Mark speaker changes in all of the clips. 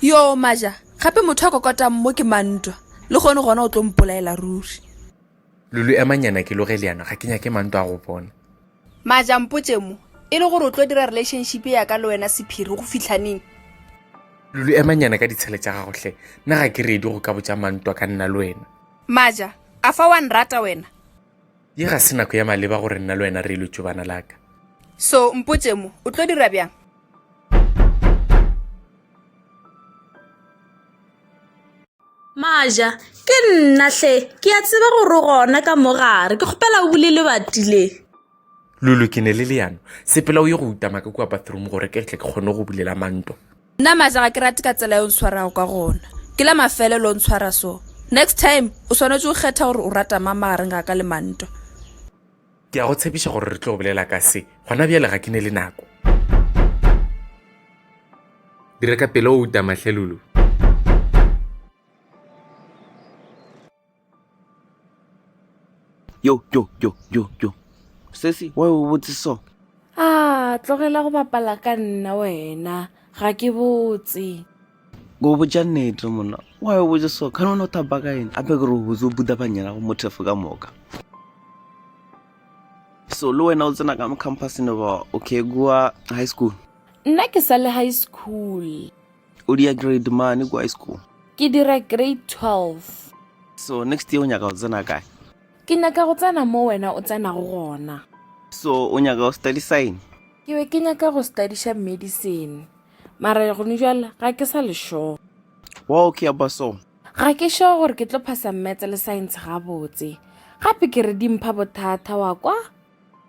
Speaker 1: yo maja gape motho a kokotang mo ke mantwa le gone gona o tlo mpolaela ruri lulu
Speaker 2: emanyana ke loge le yana ga ke nyake mantwa a go bona maja
Speaker 1: mpotse mo e le gore o tlo dira relationship ya ka le wena sephiri go fitlhaneng lulu
Speaker 2: emanyana ka ditshele tša gagotlhe nna ga ke redi go ka botsa mantwa ka nna le wena maja a
Speaker 1: fa wa nrata wena Ye ga se
Speaker 2: nako ya maleba gore nna le wena re lo tšobana la ka. So mpotše
Speaker 1: mo, o tlo dira bjang?
Speaker 3: Maja, ke nna hle, ke a tseba gore gona ka mo gare. Ke kgopela o bule lebati le. Lulu,
Speaker 2: ke ne le leano. Sepela o ye go utama ka kua bathroom gore ke tle ke kgone go bulela manto. Nna Maja ga ke
Speaker 1: rate ka tsela e o ntshwarago ka gona. Ke la mafelelo o ntshwara so. Next time o swanetše go kgetha gore o rata mang magareng ga ka le Mantwa. Ke
Speaker 2: a go tshepiša gore re tlo bolela ka se, gona bjale ga ke ne le nako. Dira ka pela outa, Mahlelulu.
Speaker 4: yo yo yo yo yo sesi wa o botse so a
Speaker 3: tlogela go bapala ka nna wena ga ke botse go
Speaker 4: botša nnete monna wa o botse so ka none o thapa ka ene gape ke re o botse o buta banyena go mothefo ka moka so le wena o tsena ka mo campusne ba okay kua high school nna ke sa le
Speaker 3: high school o dia
Speaker 4: grade mane kwa school ke dira
Speaker 3: grade 12 so next
Speaker 4: year o nyaka go tsena kae ke nyaka go
Speaker 3: tsena mo wena o tsenago gona so o nyaka
Speaker 4: go study sign ke be ke nyaka
Speaker 3: go studyša medicine mara gone jale ga ke sa lešoo wa okay
Speaker 4: aba so ga ke sure gore
Speaker 3: ke tlo phasa mmetse le science gabotse gape ke re dimpha bothata wa kwa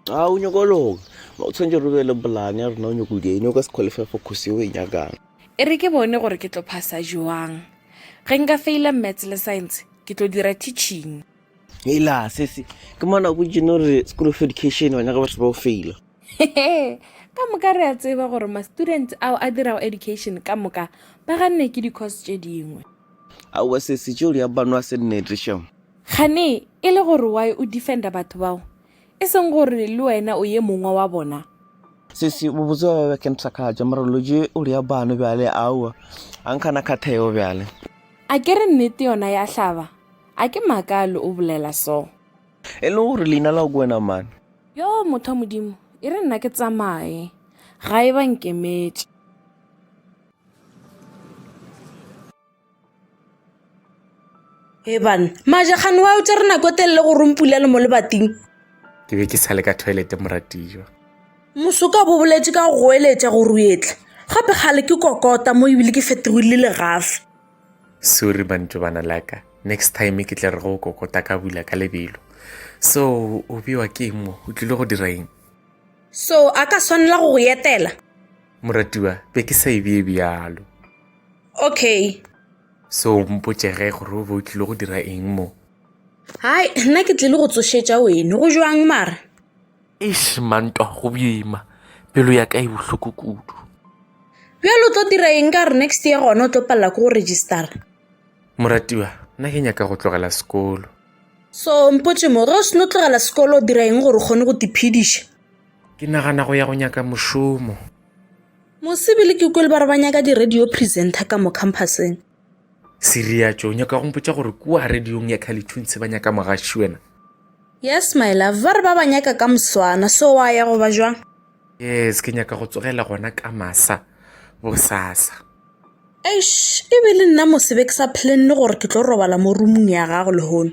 Speaker 3: ga o nyoko
Speaker 4: loka o tshwanetse re be le polane ya rena o nyoko dine o ka se qualify for course yeo e nyakang e re ke bone
Speaker 3: gore ke tlo phasa joang ge nka faila maths le science ke tlo dira teaching ela
Speaker 4: sese ke mona go jeno re school of education wa nyaka batho ba o faila
Speaker 3: ka moka re a tseba gore ma-student ao a dirago education ka moka ba ganne ke di-course tše dingwe aowa
Speaker 4: sese tšeo di a banwa se nnetešo Kgane e
Speaker 3: le gore why o defenda batho bao, e seng gore le wena o ye mongwe wa bona. Sesi,
Speaker 4: bobotse ba ba ke nthakatša, mara loje o rea bano bjale, aowa, a nkhana khatheo bjale. A ke re
Speaker 3: nnete yona ya hlaba, a ke makalo o bolela so. E le gore
Speaker 4: leina lao ke wena man? Yoo, motho wa
Speaker 3: Modimo, e re nna ke tsamaye, ga e ba nkemetše. Eban, majagane wa o tsere nako e telele go rompula le mo lebating. Ke be ke sa
Speaker 2: le ka toilet moratiwa. Mosoka
Speaker 3: bo boletse ka go goeletša go ruetla. Gape gale ke kokota mo ebile ke fetogile le gafe. Sorry
Speaker 2: mantso bana laka. Next time ke tle re go kokota ka bula ka lebelo. So o bewa ke eng mo? O tlile go dira eng? So
Speaker 3: a ka swanela go go etela. Moratiwa,
Speaker 2: be ke sa e bee bjalo. okay
Speaker 3: so
Speaker 2: mpotše ge gore o be o tlile go dira eng mo hai
Speaker 3: nna ke tlile go tsošetša wene go jwang mara eish
Speaker 2: mantwa go bima pelo ya ka e bohloko kudu bjalo
Speaker 3: o tlo dira eng ka gore next year gona o tlo palela ko go registera moratiwa
Speaker 2: nna ke nyaka go tlogela sekolo so
Speaker 3: mpotše mo ge o seno tlogela sekolo o dira eng gore o kgone go tiphediša ke nagana
Speaker 2: go ya go nyaka mošomo
Speaker 3: Mosebele ke kwele ba re ba nyaka di-radio presenter ka mo campuseng.
Speaker 2: Siriatšo, o nyaka go mpotša gore kua radiong ya Khalithuntse ba nyaka mogaši wena? Yes, my
Speaker 3: love, ba re ba ba nyaka ka moswana, so wa ya goba jwang? Yes, ke
Speaker 2: nyaka go tsogela gona ka masa bosasa. Eish,
Speaker 3: e be le nna mosebe ke sa planne gore ke tlo robala mo roomong ya gago lehono.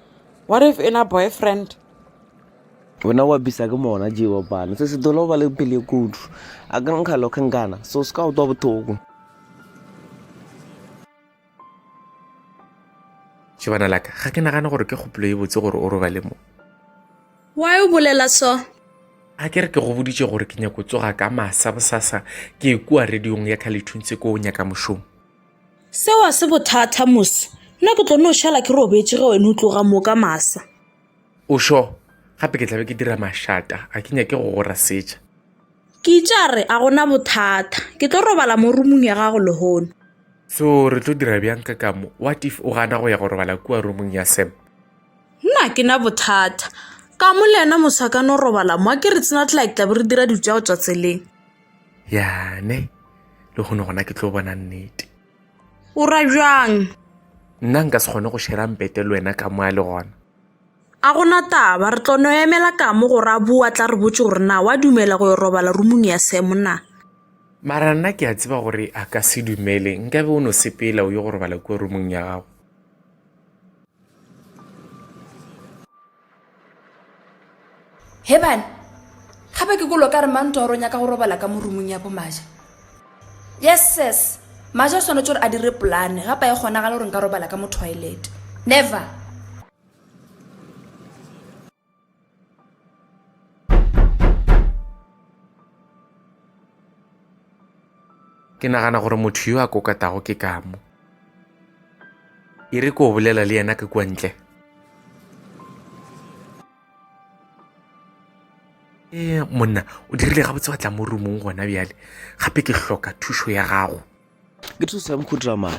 Speaker 5: What if in a boyfriend?
Speaker 4: wena wa bisa ke mona je wa bana se se dolo ba le pele kudu a ka nkga lo khankana so se ka utwa bothoko
Speaker 2: Shebana la ka, ga ke nagane gore ke kgopolo e botse gore o robale mo. Why
Speaker 1: o bolela so? A ke re
Speaker 2: ke go boditše gore ke nyako tsoga ka masa bosasa ke e kua radiong ya Khalithuntse ko o nyaka mošomo. Seo a
Speaker 1: se bothata mos. Nna ke tlo no šala ke robetše ge wena o tloga mo ka masa. O šo?
Speaker 2: Gape ke tlabe ke dira mašata, a ke nyake go go rasetša. Ke itše
Speaker 1: a re, a gona bothata. Ke tlo robala mo rumung ya gago lehono. So re
Speaker 2: tlo dira bjang ka kamo? What if o gana go ya go robala kua rumung ya Sam? Nna ke
Speaker 1: na bothata. Kamo le yena mos a ka no robala mo, a ke re tsena tlake tlabe re dira dilo tša go tšwa tseleng. yane
Speaker 2: le kgone gona ke tlo bona nnete o ra
Speaker 1: bjang nna nka
Speaker 2: se kgone go šera mpete le wena ka moya le gona a gona
Speaker 1: taba re tlono emela kamo gore a boa tla re botse gore na wa dumela go yo robala rumong ya semona mara nna
Speaker 2: ke a tseba gore a ka se dumele nkabe o no sepela o yo go robala kua rumong ya gago
Speaker 1: He bana, gape ke kolo ka re mang toro nyaka go robala ka morumung ya bomaja. Yes ses, maja o swanetše gore a dire polane gapa e kgonagale gore nka robala ka mo toilet. Never.
Speaker 2: Ke nagana gore motho yo a kokatago ke kamo. E re ko bolela le yena ka kua ntle. E monna, o dirile gabotse wa tla mo rumong gona bjale. Gape ke hloka thušo ya gago. Ke thusa
Speaker 4: mokhutra mang?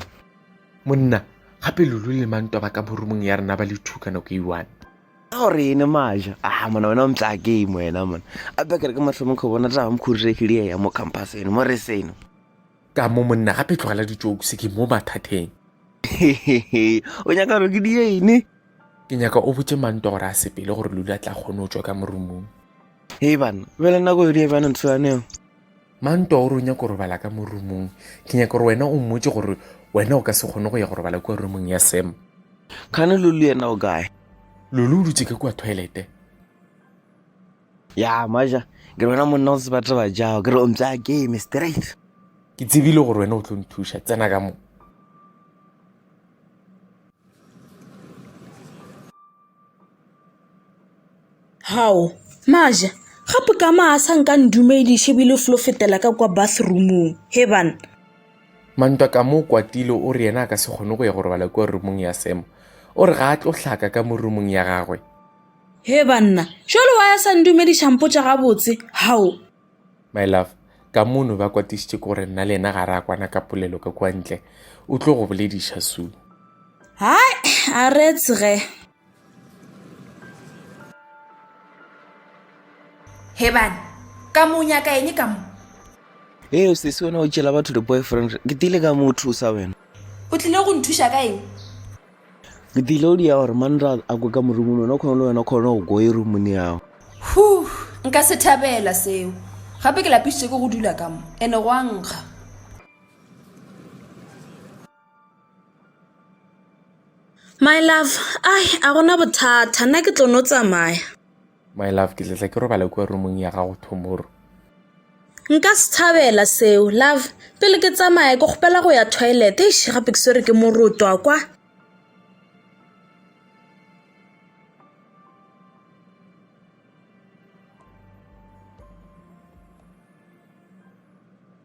Speaker 4: Monna,
Speaker 2: gape lulu le manto ba ka mo rumong ya rena ba le two ka nako e one. Go re ene
Speaker 4: maja. Ah, mona wena o mtla game wena mona. A bekere ke mahlomo kho bona taba mkhurire ke lie ya mo campus eno mo re seno. Ka mo
Speaker 2: monna gape tlogela ditšoku se ke mo mathateng.
Speaker 4: O nyaka re ke die ene. Ke nyaka o
Speaker 2: botse mantwa gore a sepele gore lula tla kgone o tswa ka morumong. Hey bana,
Speaker 4: bela nako e lie bana ntshwaneo. Manto o
Speaker 2: re o nyaka go robala ka mo rumong. Ke nyaka gore wena o mmotse gore wena o ka se kgone go ya go robala kua rumong ya Sam. Kgane Lulu
Speaker 4: yena o kae? Lulu o dutse
Speaker 2: ka kua toilete.
Speaker 4: Ya, Maja, ke re wena monna o se batla ba jago, ke re o mpsa game straight. Ke tsebile
Speaker 2: gore wena o tlo nthuša, tsena ka mo.
Speaker 1: Hao, Maja, gape ka maa a sa nka ndumediše bile o flo fetela ka kwa bathroomong, he bana? Mantwa
Speaker 2: ka mo o kwatile o re yena a ka se kgone go ya go robala kua roomong ya Sam. O re ga a tlo hlaka ka mo roomong ya gagwe. He
Speaker 1: banna, jwale wa ya sa ndumediša mpotša gabotse, hao? My love,
Speaker 2: ka mo no ba kwatišitše ke gore nna le yena ga re a kwana ka polelo ka kua ntle. O tlo go bolediša soon. Hai,
Speaker 1: a re tsge. hebane ka mo nyaka eng ka mo ee o
Speaker 4: sese wena o tšela batho di-boyfriend ke tile ka mo o thusa wena o tlile go
Speaker 1: nthuša ka eng ke
Speaker 4: tile o dia gore manra a kwe ka morumong wena o kgone le wena o kgone go ko e rumong yago hu
Speaker 1: nka se thabela seo gape ke lapisitse ke go dula ka mo ene go a nkga My love, ai a gona bothata nna ke tlo no tsamaya. My love,
Speaker 2: ke tletla ke robale kwa roomong ya gago tomorrow.
Speaker 1: Nka se thabela seo love, pele ke tsamaya ke kgopela go ya toilet. Eish gape ke swere ke moroto a kwa.